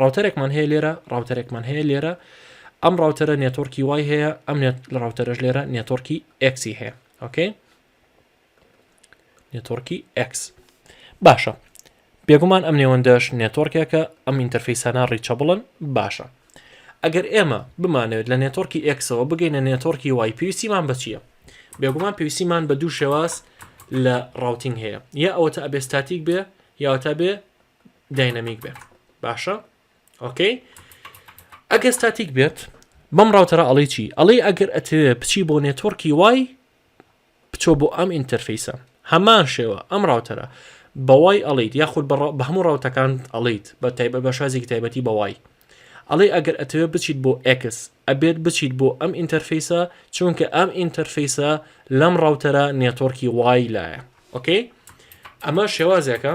ڕاوتەرێکمان هەیە لێرە، ڕاوتەرێکمان هەیە لێرە، ئەم ڕاوتەرە نێتۆرکی وای هەیە، ئەم نێت لە ڕاوتەرەش لێرە نێتۆرکی ئێکسی هەیە. ئۆکەی؟ نێتۆرکی ئێکس. باشە. بێگومان ئەم نێوەندەش نێتۆرکێکە ئەم ئینتەرفیسانە ڕیچەبڵن باشە. ئەگەر ئێمە بمانەوێت لە نێتۆرکی ئێکسەوە بگەینە نێتۆرکی وای پێویستیمان بە چییە؟ بێگومان پێویستیمان بە دوو شێواز لە ڕاوتنگ هەیە یا ئەوەتە ئەبێستاتیک بێ یاوەتا بێ داینەمیک بێ باشە ئۆکەی ئەگەر ستاتیک بێت بەم ڕاوتەرە ئەڵی چی ئەڵی ئەگەر ئەتەوێ بچی بۆ نێتۆرکی وای بچۆ بۆ ئەم ئینتەرفیسە هەمان شێوە ئەم ڕاوتەرە بەوای ئەڵیت یاخود بە هەموو ڕاوتەکان ئەڵیت بە تایبە بە شازێکی تایبەتی بەوای ئەڵێ ئەگەر ئەتەوێت بچیت بۆ ئەکس ئەبێت بچیت بۆ ئەم ئینتەرفیسە چونکە ئەم ئینتەرفیسە لەم ڕاوتەرە نێتۆرکی وای لایە ئۆکەی ئەمە شێوازێکە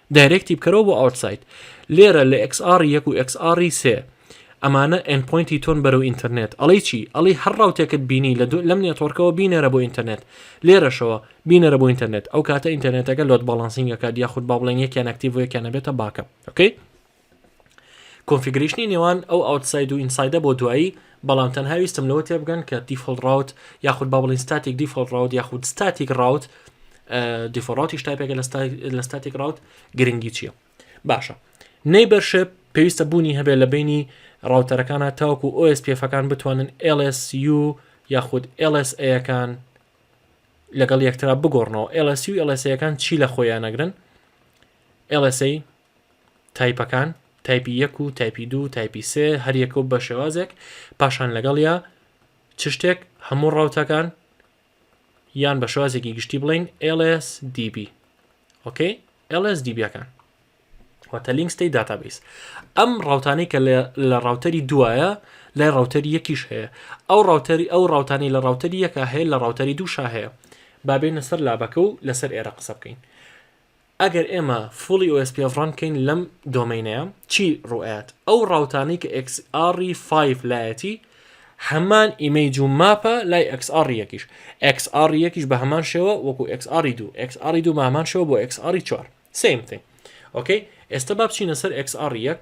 دایرێکت تیپکەرەوە بۆ ئاوتساید لێرە لە ئێکس ئاڕی یەک و ئێکس ئاڕی سێ ئەمانە ئێند پۆینتی تۆن بەرەو ئینتەرنێت ئەڵێی چی ئەڵێی هەر ڕاوتێکت بینی لە دوو لەم نێتۆرکەوە بینێرە بۆ ئینتەرنێت لێرەشەوە بینێرە بۆ ئینتەرنێت ئەو کاتە ئینتەرنێتەکە لۆد باڵانسینگ ئەکات یاخود با بڵێن یەکیان ئەکتیڤ و یەکیان ئەبێتە باکەپ ئۆکەی کۆنفیگرەیشنی نێوان ئەو ئاوتساید و ئینسایدە بۆ دوایی، بەڵام تەنها ویستم لەوە تێبگەن کە دیفۆڵت ڕاوت یاخود با بڵێین ستاتیک دیفۆڵت ڕاوت یاخود ستاتیک ڕاوت دیفۆڵت ڕاوتیش تایپێکە لە ستاتیک ڕاوت گرنگی چییە باشە نەیبەرشێ پێویستە بوونی هەبێت لە بینی ڕاوتەرەکانە تاوەکو OSPF-ەکان بتوانن LSU یاخود LSA-ەکان لەگەڵ یەکترا بگۆڕنەوە LSU LSA-ەکان چی لە خۆیان نەگرن LSA تایپەکان، تایپی یەک و تایپی دوو و تایپی سێ، هەر یەکە و بە شێوازێک، پاشان لەگەڵیا چ شتێک، هەموو ڕەوتەکان، یان بە شێوازێکی گشتی بڵێین LSDB. ئۆکەی؟ LSDB ەکان. واتە لینک ستەی داتابیس ئەم ڕاوتانەی کە لە ڕاوتەری دوایە لای ڕاوتەری یەکیش هەیە ئەو ڕاوتەری ئەو ڕاوتانی لە ڕاوتەری یەکە هەیە لە ڕاوتەری دووشا هەیە بابێنە سەر لابەکە و لەسەر ئێرە قسە بکەین ئەگەر ئێمە فوڵی OSPF ڕان بکەین لەم دۆمەینەیە چی ڕوئەیات ئەو ڕاوتانەی کە XR ی 5 لایەتی هەمان ئیمەیج و ماپە لای XR یەکیش XR یەکیش بە هەمان شێوە وەکو XR ی دوو XR ی دوو بە هەمان شێوە بۆ XR ی چوار same thing ئۆکەی ئێستا با بچینە سەر XR یەک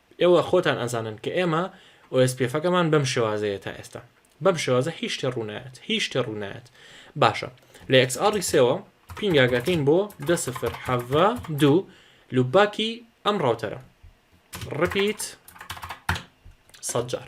ئێوە خۆتان ئەزانن کە ئێمە ئۆئێسپیێفەکەمان بەم شێوازەیە تا ئێستا. بەم شێوازە هیچ شتێ ڕوو نایەت، هیچ شتێ ڕوو نایەت. باشە، لە ئێکس ئاڕی سێوە پینگاگەکەین بۆ دە سفر حەڤە دوو لووپباکی ئەم ڕاوتەرە. ڕپیت سەد جار.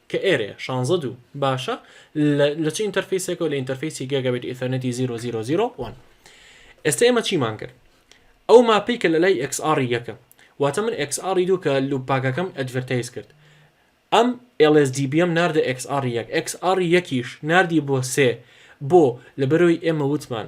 کە ئێرەیە شانزە دوو باشە لە لە چ ئینتەرفیسێکەوە لە ئینتەرفیسی گێگابێت ئیثەرنێتی زیرۆ زیرۆ زیرۆ وان ئێستا ئێمە چیمان کرد ئەو ماپەی کە لە لای ئێکس ئاڕی یەکە واتە من ئێکس ئاڕی دوو کە لوپ پاکەکەم ئەدڤەرتایز کرد ئەم LSDBM ناردە XR1 XR1یش ناردی بۆ سێ بۆ لەبەرەوەی ئێمە وتمان